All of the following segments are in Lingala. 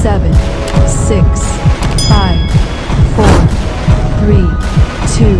seven, six, five, four, three, two.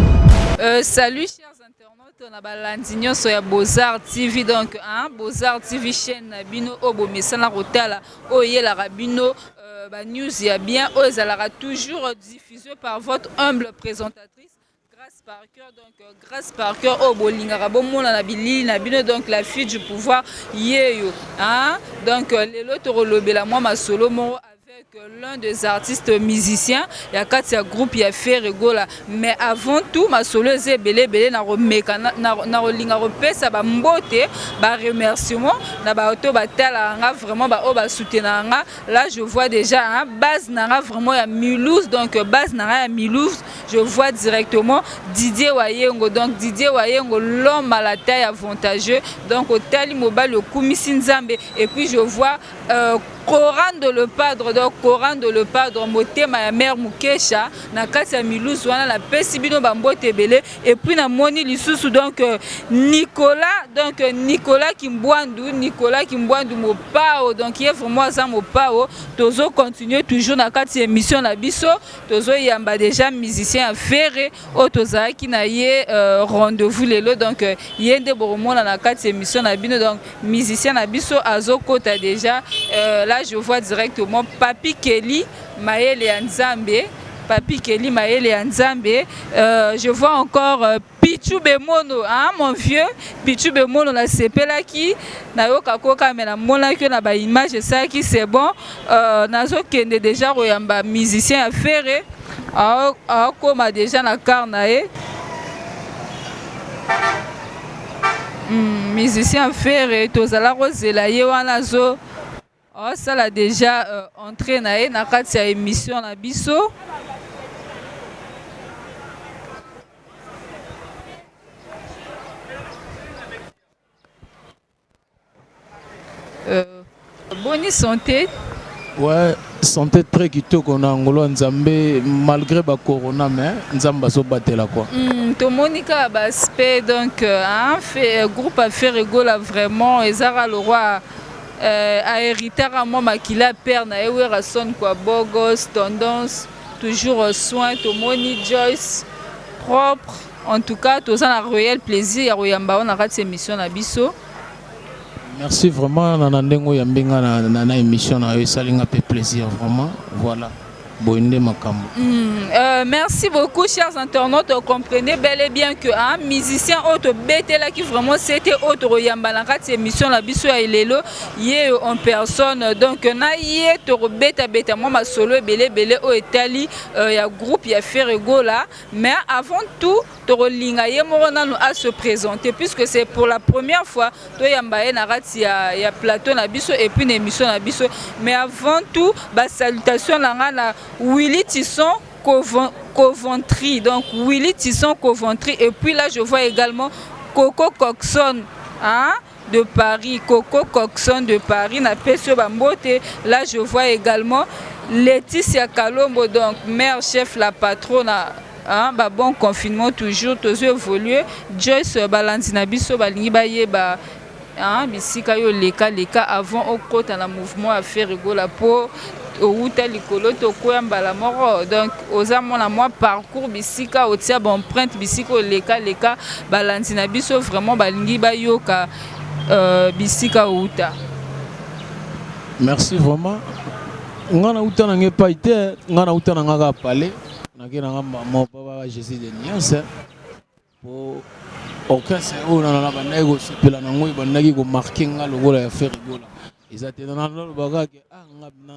Euh, salut chers internautes, on a balandi nyonso ya Bozar TV donc hein, Bozar TV chaîne na bino oyo bomesana kotala oyo eyelaka bino euh, ba news ya bien oyo ezalaka toujours diffusé par votre humble présentatrice Grace par cœur, donc euh, Grace par cœur, oh bolingaka bomona na bilili na bino, donc la fille du pouvoir yeyo. Hein? Donc euh, lelo tokolobela mwa masolo moko avec euh, l'un des artistes musiciens ya kati ya groupe ya Ferre Gola. Mais avant tout masolo eza ebele ebele na komeka na kolinga kopesa ba mbote ba remerciement na ba oto batala nga vraiment ba oyo basoutenaka nga là je vois déjà hein, base na nga vraiment ya Mulhouse donc base na nga ya Mulhouse Je vois directement Didier Wayengo. Donc Didier Wayengo, l'homme à la taille avantageux. Donc au Tali Mobali, au Kumisi Nzambe. Et puis je vois euh, Coran de le Padre. Donc Coran de le Padre, motema ya mère Mukesha. Na kati ya milusu wana na pesi bino bambote ebele. Et puis na moni lisusu donc euh, Nicolas. Donc euh, Nicolas Kimbwandu. Nicolas Kimbwandu Mopao. Donc il est vraiment aza Mopao. Tozo continuer toujours na kati ya émission na biso. Tozo yamba dejà musicien ya Ferre oyo tozalaki na ye euh, rendez-vous lelo donc euh, ye nde bokomona na kati émission na bino donc musicien na biso azokota dejà euh, là je vois directement Papi Kelly mayele ya Nzambe Papi Kelly mayele ya Nzambe euh, je vois encore euh, Pitshou Bemono haa mon vieux Pitshou Bemono na sepelaki na yoka koka mais na monaki yo na ba images esalaki c'est bon nazo kende dejà ko yamba musicien ya Ferre azo koma dejà na car na ye musicien ya Ferre tozala ko zela ye wana azo Asala deja uh, entrée na ye na kati ya emission na biso. Euh, boni santé ouais santé très kitoko na ngolo nzambe malgré ba corona mais nzambe azobatela quoi mm, tomoni kaka baaspect donc euh, hein, euh, groupe affaire egola vraiment ezaka loroi Euh, a heritaka mwa makila ya père na ye Werrason kwa Bogos, tendance toujours euh, soin tomoni Joyce propre en tout cas toza na réel plaisir ya koyamba wana kati émission na biso merci vraiment na ndenge oyambi nga na, na, na émission na yo esali nga mpe plaisir vraiment voilà boye nde makambo mm, euh, merci beaucoup chers internautes comprenez bel et bien que hein, musicien oyo tobetelaki vraiment sete oyo tokoyamba na kati émission na biso ya elelo ye en personne donc na ye tokobetabeta mwa masolo ebele ebele oyo etali euh, ya groupe ya ferregola mais avant tout Tokolinga ye moko nanu a se presenter puisque c'est pour la première fois toyamba ye na kati ya, ya plateau na biso et puis na emission na biso mais avant tout ba salutations na nga na Willy Tisson Covon- Coventry donc Willy Tisson Coventry et puis là je vois également Coco Coxon hein de Paris, Coco Coxon de Paris, na Pesio Bambote. Là, je vois également Laetitia Kalombo, donc mère chef, la patronne. Hein, ba bon confinement toujours, tous évoluer. Joyce Balanzi na biso, balingi ba yeba hein, bisika yo leka leka avant okota na mouvement ya Ferregola po owuta likolo to kweya mbala moko donc oza mona mwa parcours bisika otia ba empreinte bisika oleka leka balandi na biso vraiment balingi bayoka euh, bisika owuta merci vraiment nga na uta na nga epai te nga na uta na nga kaka pale nake na nga mama papa jésus de niance Po orchestre oyo na na bandaki ko sepela na ngo ebandaki ko marquer nga lokola ya Ferre Gola eza te na na loba kaka ke ah nga na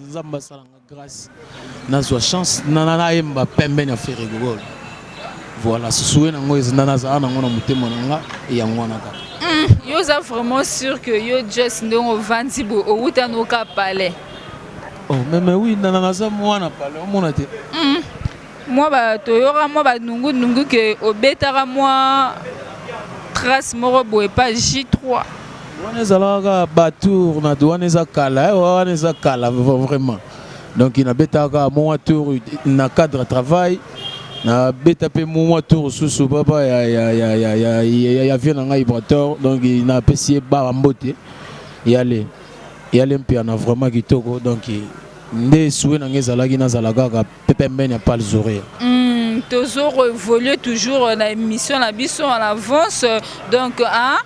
Nzambe asala nga grace na zwa chance na na na yemba pembeni ya Ferre Gola voilà souhait na ngo eza na na za na ngo na motema na nga e yango wana kaka yo oza vraiment sûr que yo just ndenge ovandi boye owuta noka palais oh, meme wi nana naza mwana palais omona te mm. Mwa ba toyoka mwa ba nungu nungu que obetaka mwa trace moko boye epa J3. Wana ezalaka kaka ba tour na wana eza kala eh, wana eza kala vraiment donc nabetaka mwa tour na cadre travail nabeta mpe mwa tour susu papa ya, ya, ya, ya, ya, ya, ya vieux na ngai brator donc napesi ye baba mbote yale yale mpiana vraiment kitoko donc nde sue na ngai ezalaki nazala kaka Pepe Mbeni ya Pal Zore. Hmm, tozo revoluer toujours na émission na biso en avance donc hein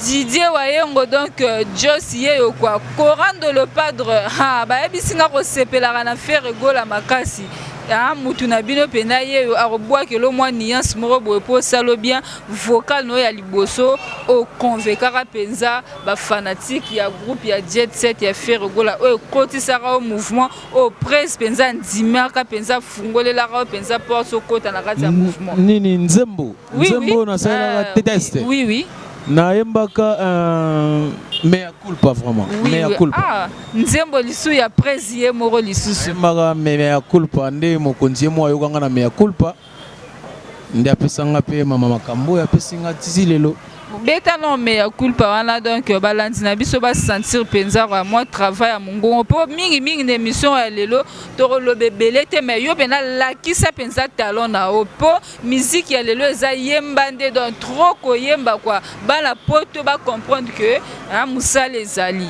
Didier Wayengo donc euh, Joss yeyo quoi Corando le padre ha bayebisi nga kosepelaka na Ferre Gola makasi ah mutu na bino mpena ye oyo akobwakela mwa nuance moko boye mpo osalo bien vocal na oyo ya liboso oconvekaka mpenza bafanatike ya groupe ya jet set ya ferre gola oyo ekotisaka yo mouvement Oh presse penza ndimaka penza fungolelaka yo penza porte okota na kati ya mouvement. Nini nzembo? Oui, nzembo oui. nasalelaka euh, test. Oui oui. Nayembaka euh, mea culpa vraiment. Oui, mea culpa. Ah, nzembo lisu ya presse ye moko lisusu. Nayembaka mea culpa nde mokonzi ye moko ayokanga na mea culpa. nde apesa nga pe mama makambo oyo apesi nga tizi lelo. Beta nao mea culpa wana donc balandi na biso ba sentir penza kwa mwa travail ya mongongo mpo mingi mingi na emission ya lelo tokoloba ebele te mais yo pena lakisa penza talent na yo mpo miziki ya lelo eza yemba nde donc trop koyemba kwa bana poto ba comprendre que mosala ezali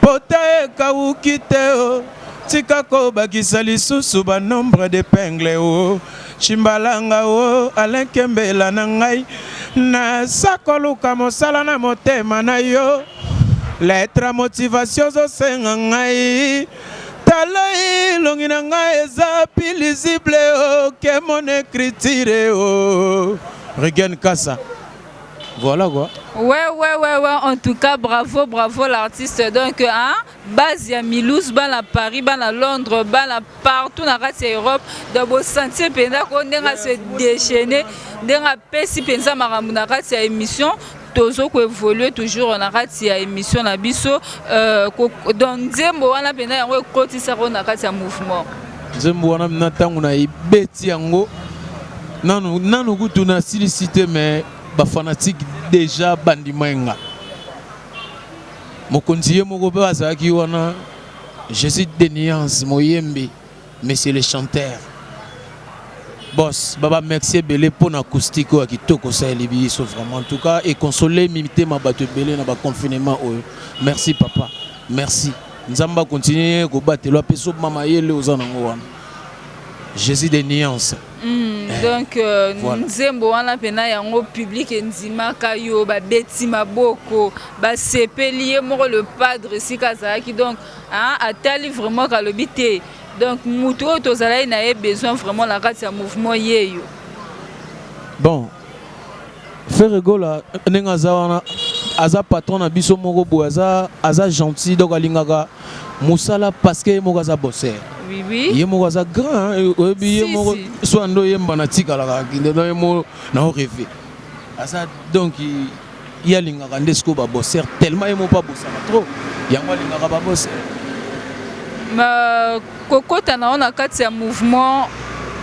Pota ekawuki te oh tika ko bakisa lisusu ba nombre d'epingle oh Tshimbalanga oh Alain Kembela na ngai naza koluka mosala na motema na yo Lettre ya motivation ozo senga ngai Talai elongi na ngai eza pi lisible oh Que mon ecriture oh Regain Kasa Voilà quoi. Ouais, ouais, ouais, ouais. En tout cas, bravo, bravo l'artiste. Donc, hein, base ya Milouz, ban à Paris, ban à Londres, ban à partout na kati ya Europe. Donc, bo sentir penza ko ndenga se déchaîner, ndenga pesi penza makambo na kati ya émission. tozo ko évoluer toujours na kati ya émission na biso euh, donc nzembo wana penza yango ekotisa ko na kati ya mouvement Nzembo wana na ntango na ebeti yango nanu nanu kutu nasilisi te me bafanatike deja bandima ye nga mokonzi ye moko mpe azalaki wana jésus de nuance moyembi monsieur le chanteur bos babamexi ebele mpo na acoustique oyo ya kitoko osaleli biso vraiment en tout cas econsole mitema bato ebele na baconfinement oyo merci papa merci Nzambe a continuer ko batela pe so mama yele oza na ngo wana. Jésus des nuances. Mm, eh, donc euh, voilà. nzembo wana mpena yango public endimaka yo babeti maboko basepeli ye moko le padre esika azalaki donc hein, atali vraiment kalobi te donc motu oyo tozalaki na ye besoin vraiment na kati ya mouvement yeyo bon Ferre Gola ndenge aza wana aza patron na biso moko boye aza aza gentil donc alingaka musala parce que ye moko aza bosser oui, oui. ye moko aza grand oyebi ye moko soit ndo yemba na tikalaka kinde na ye moko na oreve aza donc ye alingaka nde sikoyo ba bosser tellement ye moko mpe abosaka trop yango alingaka ba bosser kokota na yo na kati ya mouvement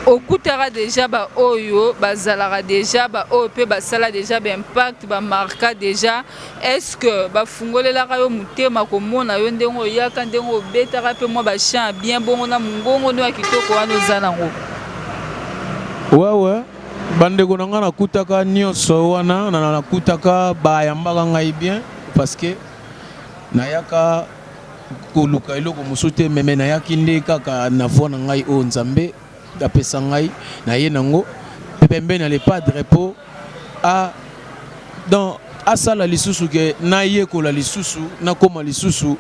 okutaka deja baoyo bazalaka deja baoyo mpe basala deja baimpact bamarka deja estceque bafungolelaka yo motema komona yo ndenge oyaka ndenge obetaka mpe mwa bachan ya bien bongo na mongongo nde ya kitoko wana oza nango wawa Bandeko na ngai nakutaka nyonso wana nakutaka bayambaka ngai bien parce que nayaka koluka eloko mosusu te meme nayaki nde kaka na voi na ngai oyo nzambe apesa ngai naye nango mpe pembeni ya lepadre mpo a donc asala lisusu ke nayekola lisusu nakoma lisusu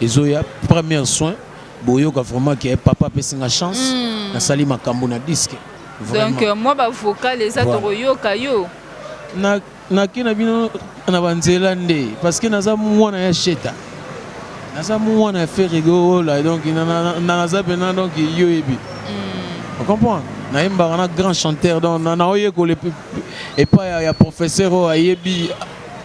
ezo ya première soin boyoka vraiment que papa apesi nga chance mm. nasali makambo na disque vraiment. donc euh, mwa bavokale eza voilà. tokoyoka yo na nake na bino na banzela nde parce que naza mwana ya sheta naza mwana ya ferregola donc naza mpena donc yo yebi mm. ocomprendre nayembaka na grand chanteur donc naoyekola epai ya professeur oyo ayebi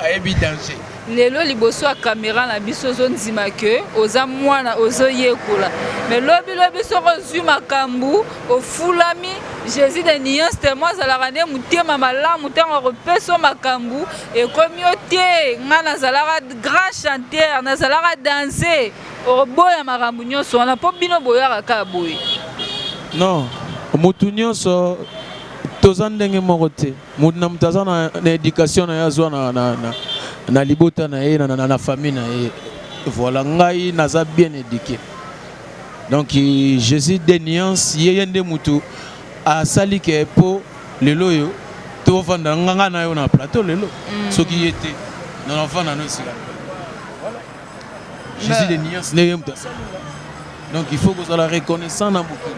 ayebi danger lelo liboso ya kamera na biso ozondima ke oza mwana ozoyekola me lobi lobi soki ozwi makambo ofulami jésus de nuance temo azalaka nde motema malamu ntango akopesa o makambo ekomi yo te ngai nazalaka grand chanteur nazalaka danse oboya makambo nyonso wana mpo bino boyaka kaka boye non motu nyonso toza ndenge moko te Moto na moto aza na education na ye azwa na libota na ye na famille na ye voilà ngai naza bien éduqué donc jésus de nuance ye ye nde motu asali ke mpo lelo oyo tovanda nganga na yo na plateau lelo mm. soki ye te nonafanda no esika Jésus de nuance ndenge moto asala donc il faut kozala reconnaissant na mokili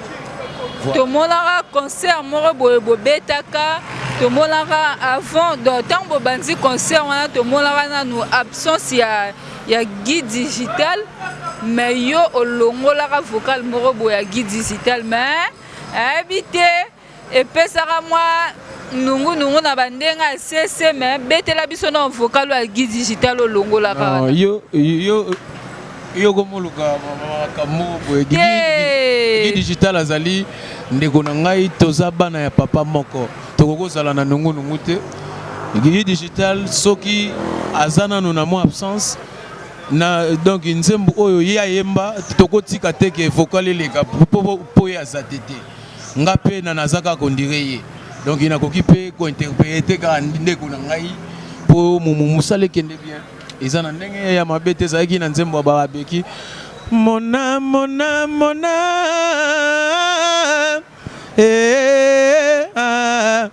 tomonaka concert moko boye bobetaka tomonaka avant donc ntango bobanzi concert wana tomonaka nanu absence ya, ya guide digital mais yo olongolaka vocal moko boye ya guide digital mais ayebi te epesaka mwa nungu nungu na ba ndenge ya sese me betela biso na vocal ya guide digital olongolaka yo yo yo komoluka makambo boye guide digital azali ndeko na ngai toza bana ya papa moko tokoki kozala na nungu nungu te guide digital soki aza nano na mwa absence na donc nzembo oyo ye ayemba tokotika te ke vocal eleka mpo ye aza te te Nga pe na naza kaka on dirait ye donc na koki pe ko interprete kaka ndeko na ngai po musala ekende bien eza na ndenge ya mabe te ezalaki na nzembo ya barabeki mona mona mona eh, ah,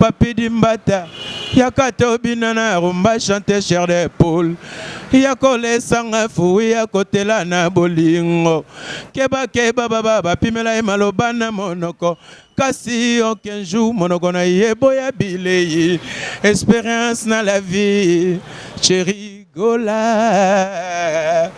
Papy Dimbata yaka to bina na rumba chante chair de poule yako lesa nga fouille ya kotela na bolingo keba keba baba ba pimela ye maloba na monoko kasi aucun jour monoko na ye boya bileyi experience na la vie chérie gola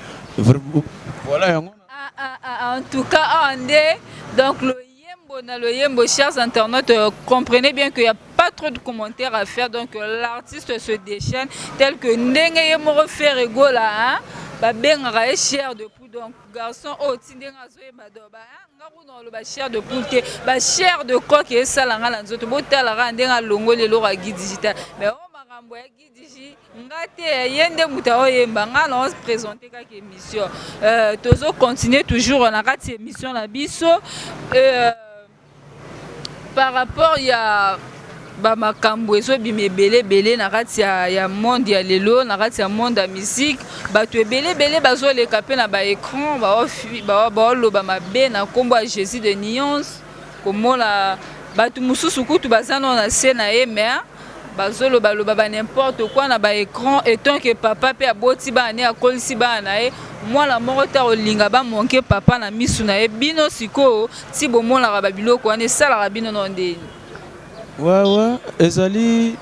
voilà yango ah ah ah en tout cas ah nde donc Loyembo na loyembo, chers internautes, euh, comprenez bien qu'il n'y a pas trop de commentaires à faire, donc euh, l'artiste se déchaîne, tel que Ndenge Yemoro Ferre Gola, hein, babengaka ye cher de poule donc garçon oyo oh, ti ndenge azoyeba do ba hein, nga kuna oloba cher de poule te ba cher de coque esala nga na nzoto botalaka ndenge alongoli eloko ya guide digital mais oyo oh, makambo ya nga te ye nde moto aoyemba nga na ose présente kaka émission euh, tozo continue toujours na kati émission na biso euh, par rapport ya bamakambo ezobima ebele ebele na kati ya, ya monde ya lelo na kati ya monde ya musique bato ebele ebele bazoleka mpe na baécran baoloba mabe na nkombo ya jésus de nuance komona bato mosusu kutu baza nao na se na ye mais Bazo loba loba ba n'importe quoi na ba ecrans et tant que papa pe aboti bana naye akolisi bana naye mwana moko te akolinga ba manque papa na misu naye bino sikoyo ti bomonaka ba biloko wana esalaka bino nao ndeni? Ouais ouais ezali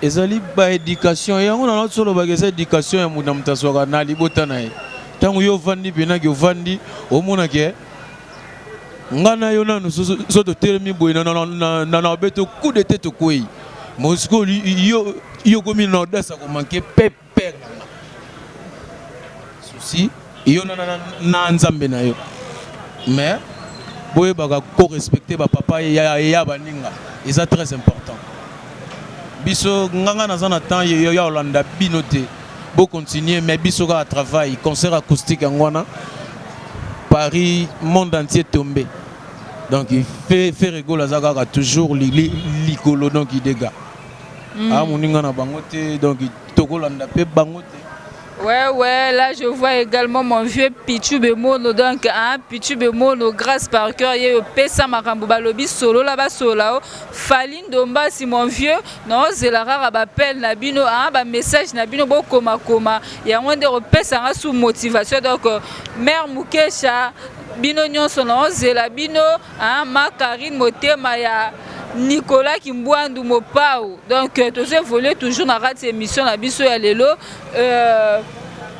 ezali ba education yango na nao soloba eza education ya mutu na mutu azwaka na libota naye tango yo ovandi pena ke ovandi omona ke Nga na yo nanu so totelemi boye na na obeto coup de tete okwei mosiko yo yo komi na audace ya komanke pe pere na nga susi yo na na nzambe na yo mais boyebaka ko respecte bapapa ya baninga eza très important biso nganga naza na temps ya olanda bino te Bo continuer mais biso kaka travail concert acoustique yango wana Paris monde entier tombe donc Ferre Gola aza kaka toujours likolo donc idega mm. ah moninga na bango te donc tokolanda pe bango te Ouais, ouais, là je vois également mon vieux Pichu Bemono, donc hein, Pichu Bemono, grâce par cœur, il y a Pessa Makambo Balobi, Solo là-bas, Solao, Faline Dombasi, mon vieux, Naozela kaka ba appel na bino hein, ba message na bino bokoma koma yango nde kopesa nga sous motivation donc euh, mère Mukesha bino nyonso naozela bino hein, ma Karine motema ya Nicolas Kimbuandu Mopao donc euh, tozo évoluer toujours na kati émission na biso ya lelo euh,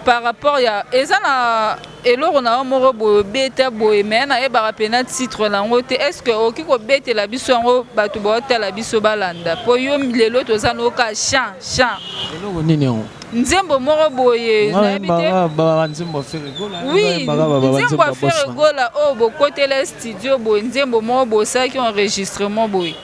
par rapport ya eza na Eloko na yo moko boye obeta boye mais na yebaka pena titre na ngo te est ce que okoki ko betela biso yango batu ba otala biso ba landa po yo lelo toza na yo ka chant chant Eloko nini yango? nzembo moko boye Nga na yebi te yembaka ba ba nzembo ya Ferre Gola, nga oui yembaka ba ba ba nzembo nzembo ya ya Ferre Bostra. Gola oyo bokotela studio boye nzembo moko boye osalaki enregistrement boye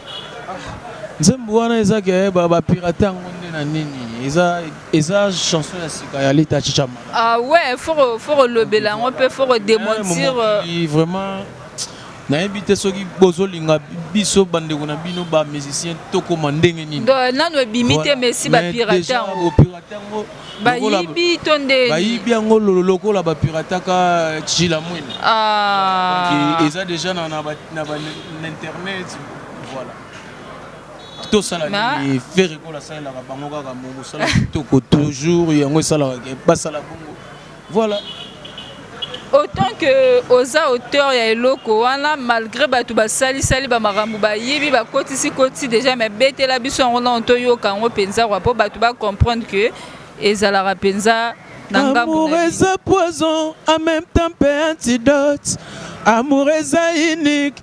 Nzembo wana eza ke ba ba pirate yango nde na nini? Eza Eza chanson ya sika ya Lita Chicha Mala. Ah ouais, faut faut kolobela yango pe faut ko démentir. Eh, vraiment nayebi te soki bozolinga biso bandeko na bino ba musicien tokoma ndenge nini nano ebimi te mesi bapirate yango bayibi to nde bayibi yango lokola bapirataka chila mwene ah. eza deja na bainternet voilà tosala nini ferre kola asalelaka bango kaka mosala kitoko toujours yango esalaka ke basala bongo voilà autant que oza auteur ya eloko wana malgré bato basalisali bamakambo bayibi bakotisi kotisi déjà mais betela biso yango nano toyoka yango mpenza kwa mpo bato bacomprendre que ezalaka mpenza Amour is a poison, en même temps pe antidote. Amour is a unique,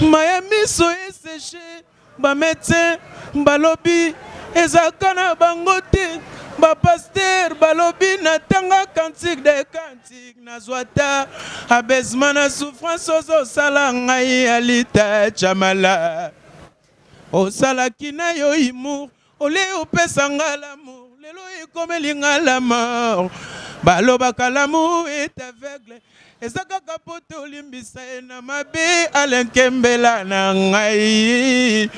Ma ya miso e seche ba medecin ba lobi eza ka na bango te ba pasteur ba lobi na tanga cantique de cantique na zua ta abaisement na souffrance ozo sala ngai Alita Tshamala osalaki na yo humour Ole opesa nga l'amour lelo ekomeli nga la mort balobaka l'amour est aveugle eza kaka po tolimbisa ye na mabe alenkembela na ngai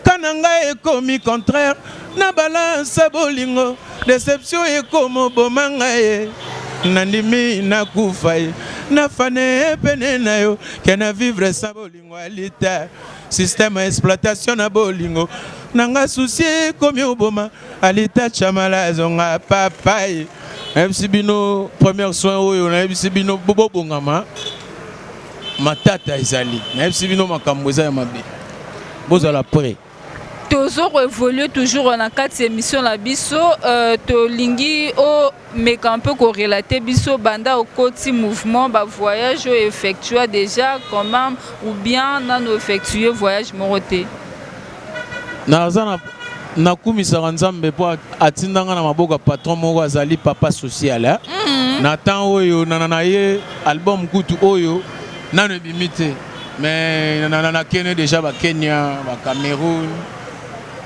kana ngai ekomi contraire na balance bolingo deception ekomoboma ngai ye nandimi nakufa ye nafane pene na yo kena vivre sa bolingo Bolingo ya lita système ya exploitation na bolingo na nga souci ekomi oboma alita chamala azonga papa ye nayebisi bino première soin oyo nayebisi bino bobongama matata ezali nayebisi bino makambo eza ya mabe bozala près tozo ko evoluer toujours na kati emission na biso euh, tolingi o meka un peu ko relater biso banda okoti mouvement ba voyage o effectua déjà quand même ou bien nano effectuer voyage moko te naza na nakumisaka nzambe mpo atinda nga na maboko ya patron moko azali papa social eh? mm -hmm. na temps oyo nana na ye album kutu oyo nano ebimi te Mais na na kene deja ba Kenya, ba Cameroun.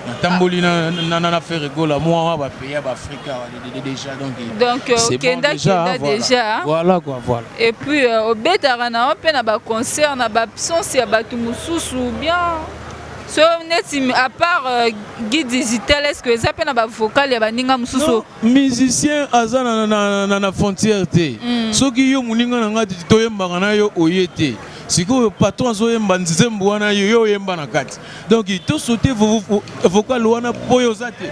Na tamboli na na na faire gola moi ba pays ba Afrika déjà donc. Donc euh, kenda kenda déjà. Voilà quoi voilà. Et puis euh, obetaka na on pe na ba concert na ba absence ya batu mususu bien. so neti à part euh, guide digital est ce que eza mpe na bavokale ya baninga mosusu musicien aza na, na, na, na frontière te mm. soki yo moninga na ngai toyembaka na yo oye te sikoyo patron azoyemba nzembo wana yo yo oyemba na kati donc tosote vocal wana mpo yo oza te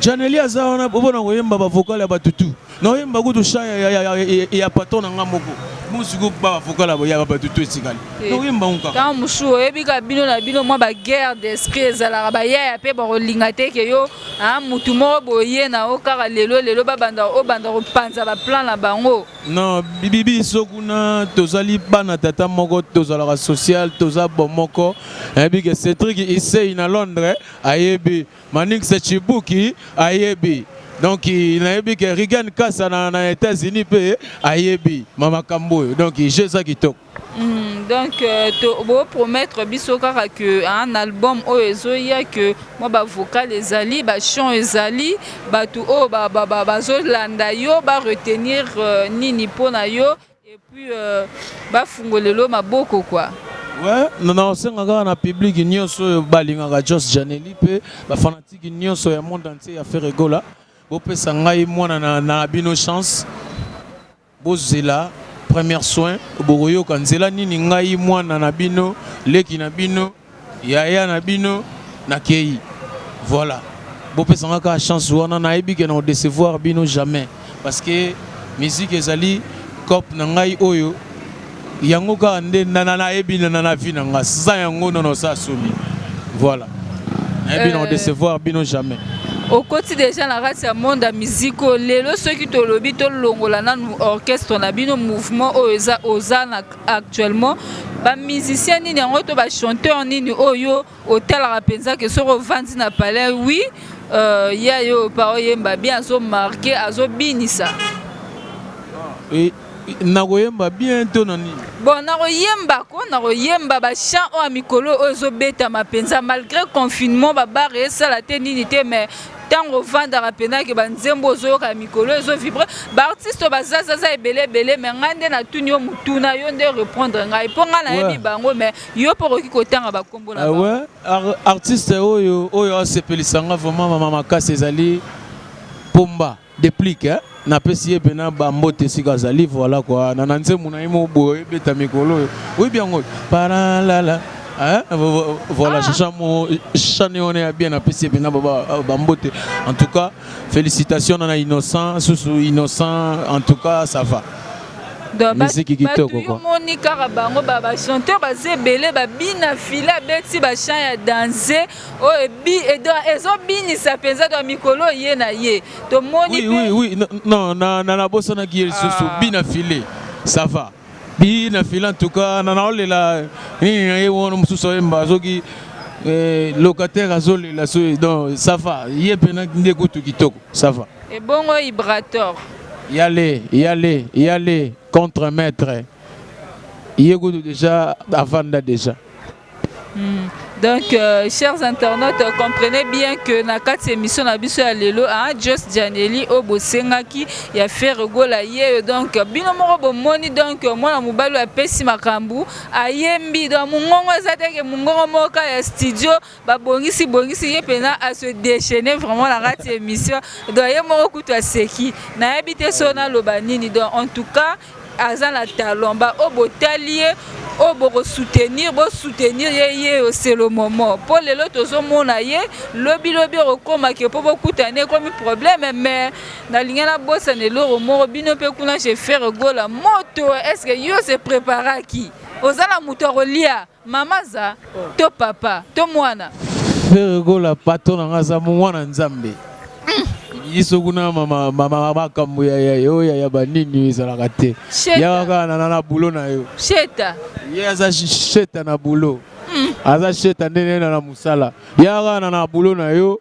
janeli aza wana mpo na koyemba bavocal ya bato tu naoyemba kutu sha ya, ya, ya, ya, ya, ya patron na ngai moko mosiko bavokala boyaka bato to etikali oyemba ngo kaka mosusu oyebi kaka bino na bino mwa baguerre d'esprit ezalaka bayaya mpe bakolinga te ke yo Ah, mutu moko boye na o kaka lelo lelo ba banda o banda ko panza ba plan na bango. Non, bibi biso kuna tozali bana tata moko tozalaka social toza bomoko. Ayebi ke Cedric Issei na Londres ayebi Manix Chibuki ayebi. Donc nayebi ke Regan Kasa na, na États-Unis pe ayebi mama kamboyo. Donc je za kitoko. Hum, donc euh, to bo promettre biso kaka que hein, na album oyo ezoya que mwa ba vocal ezali ba chant ezali bato oyo bazolanda yo ba retenir euh, nini mpo na yo et puis euh, bafungolelo maboko quoi Ouais, nasenga kaka na public nyonso oyo balingaka jos janeli mpe bafanatiki nyonso ya monde entier ya ferre gola bopesa ngai mwana na, na bino chance Bozela première soin bokoyoka nzela nini ngai muana na bino leki na bino yaya na bino na keyi voila bopesa nga kaka chance wana na yebi ke nako decevoir bino jamais parce que musique ezali coop na ngai oyo Yango kaka nde nana nayebi nana na vie na nga sans yango non oza soni voilà nayebi na odecevoir bino jamais okoti deja na kati ya monde ya miziki oyo lelo soki tolobi tolongola nanu orchestre na bino mouvement oyo eza oza na actuellement bamusicien nini yango to bachanteur nini oyo otalaka penza ke soki ovandi na palais oui euh, ya yo pa oyemba bien azo marke azobinisa e, nakoyemba bien to na nini bon nakoyemba ko nakoyemba bachant oyo ya mikolo oyo ezobetama mpenza malgré confinement babare esala te nini te mais ntango ovandaka mpenza ke banzembo ozoyoka ya mikolo ezovibre baartiste oyo bazazaza ebele ebele me ngai nde natuni yo motuna yo nde reprendre ngai mpo ngai nayebi bango me Yo pe okoki kotanga ba kombo na bango. Ah ouais, Ar artiste oyo oyo asepelisa nga vraiment mama makasi ezali pomba deplic hein. napesi ye mpena bambote esika azali voilà kua na na nzembo na ye moko boye ebeta mikolo oyo oyebi yango paralala Hein? Voilà, ah. Chamo, Chani, on est à bien apprécié, bien euh, Bambote. En tout cas, félicitations, on a innocent, sous innocent, en tout cas, ça va. miziki kitoko quoi moni kaka bango ba ba chanteur baza ebele babina file abeti ba chant ya danse oyo ebi ezobinisa mpenza to mikolo ye na ye tomoni oui, oui, oui. non na, na, nabosanaki ye lisusu ah. bina file ça va bina file en tout cas na naolela nini na ye wana mosusu ayemba soki eh, locataire azolela so donc ça va ye mpe nde kutu kitoko ça va ebongo ibrator yale yale yale contre maître ye kutu déjà avanda déjà hmm. Donc, euh, chers internautes, euh, comprenez bien que na kati émission na biso ya lelo, hein, Just Janelli au Bosengaki, il y a fait regola hier. Donc, bino moko bo moni donc euh, moi na mobali a pesi makambu, ayembi donc mungongo ezate ke mungongo moka ya studio ba bongisi bongisi ye pena a se déchaîner vraiment na kati émission donc ye moko kutu aseki nayebi te so naloba nini donc en tout cas aza na talent ba oyo botali ye oyo bokosoutenir bosoutenir ye ye oselo momo mpo lelo tozomona ye lobi lobi okokoma ke mpo bokutana ekomi problème mais nalingi nabosana eloko moko bino mpe kuna chez frere gola moto eske yo se préparaki oza na moto akolia Mama aza to papa to mwana. Ferre Gola patron na nga aza mwana nzambe biso kuna makambo oya ya banini ezalaka te yaka kaka nana na bulo na yo sheta ye aza sheta na bulo hmm. aza sheta nde nena na mosala yaka kaka nana na bulo na yo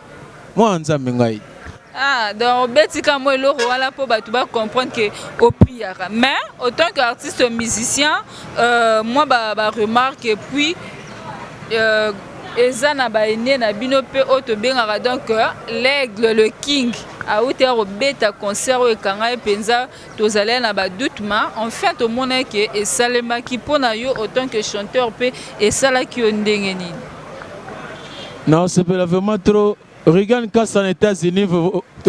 Mwana Nzambe ngai. Ah, donc obeti ka moi eloko wana po bato ba comprendre que opriaka. Mais autant que artiste musicien, euh, moi ba ba remarque et puis euh, eza na ba aînés na bino pe oyo tobengaka donc euh, l'aigle le king auti akobeta concert oyo ekangai mpenza Tozalai na ba doute ma enfin tomonai ke esalemaki pona yo autant que chanteur pe esalaki yo ndenge nini? Nasepela vraiment trop Regan Kasa na Etats-Unis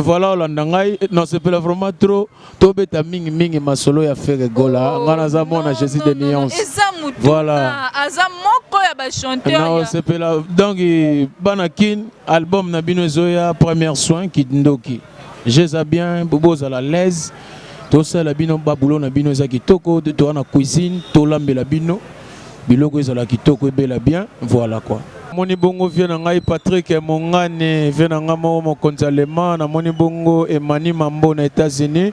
voilà olanda ngai nasepela vraiment trop tobeta mingi mingi masolo ya Ferre Gola oh, ngai naza mwana Jésus de Nuance voilà aza moko ya ba chanteur nasepela donc bana kin album na bino ezoya première soin kindoki Je eza bien bozala l'aise tosala bino ba boulot na bino eza kitoko toa na cuisine tolambela bino biloko ezala kitoko ebela bien voilà quoi. Namoni bongo vieux na ngai Patrick Mongane, vieux na ngai moko mokonzi allemand, namoni bongo Emani Mambo na Etats-Unis.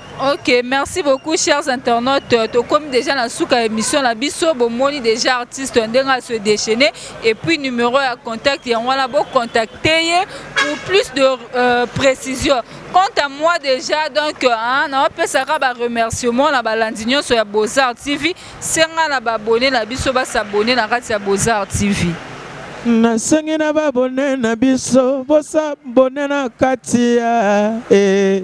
Ok, merci beaucoup chers internautes. Tokomi déjà na suka émission na biso, bomoni déjà artiste ndenga se déchaîner et puis numéro ya contact ya wana bo contacter ye pour plus de euh, précision. Quant à moi déjà donc hein, na pesaka ba remerciements na balandi nyonso ya Beaux-Arts TV, senga na ba abonner na biso ba s'abonner na kati ya Beaux-Arts TV. nasengi na babone na biso bosabone na kati ya eh.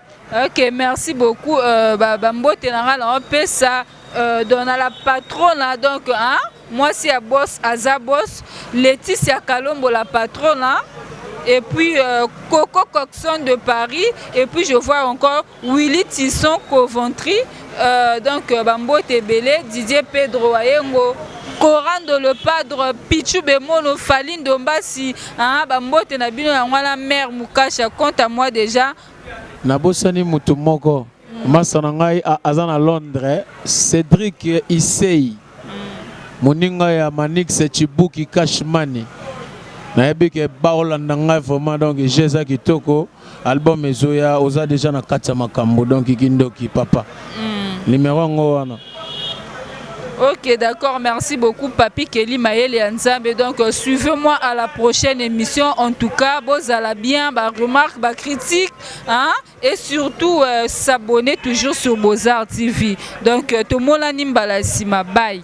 Ok merci beaucoup euh, ba, ba mbote na nga na opesa euh, donc na la patrona donc hein, mwasi ya boss aza boss Laetitia Kalombo la patrona et puis euh, Coco Coxon de Paris et puis je vois encore Willy Tisson Coventry euh, donc euh, ba mbote ebele Didier Pedro Ayengo Corando le padre Pichu Bemono Falindo Mbasi hein, ba mbote na bino yango wana mère Mukasha compte à moi déjà Nabosani mutu moko masta na ngai aza na Londres Cedric Issey moninga ya Manix Tshibuki cash money nayebi ke baolanda ngai vraiment donc jeu eza kitoko album ezoya oza dejà na kati ya makambu donc kindoki papa numero yango wana. Ok d'accord merci beaucoup papy Kelly mayele ya nzambe donc euh, suivez moi à la prochaine émission en tout cas bozala bien ba remarque ba critique hein et surtout euh, s'abonner toujours sur Bozar TV donc euh, tomonani mbala sima bye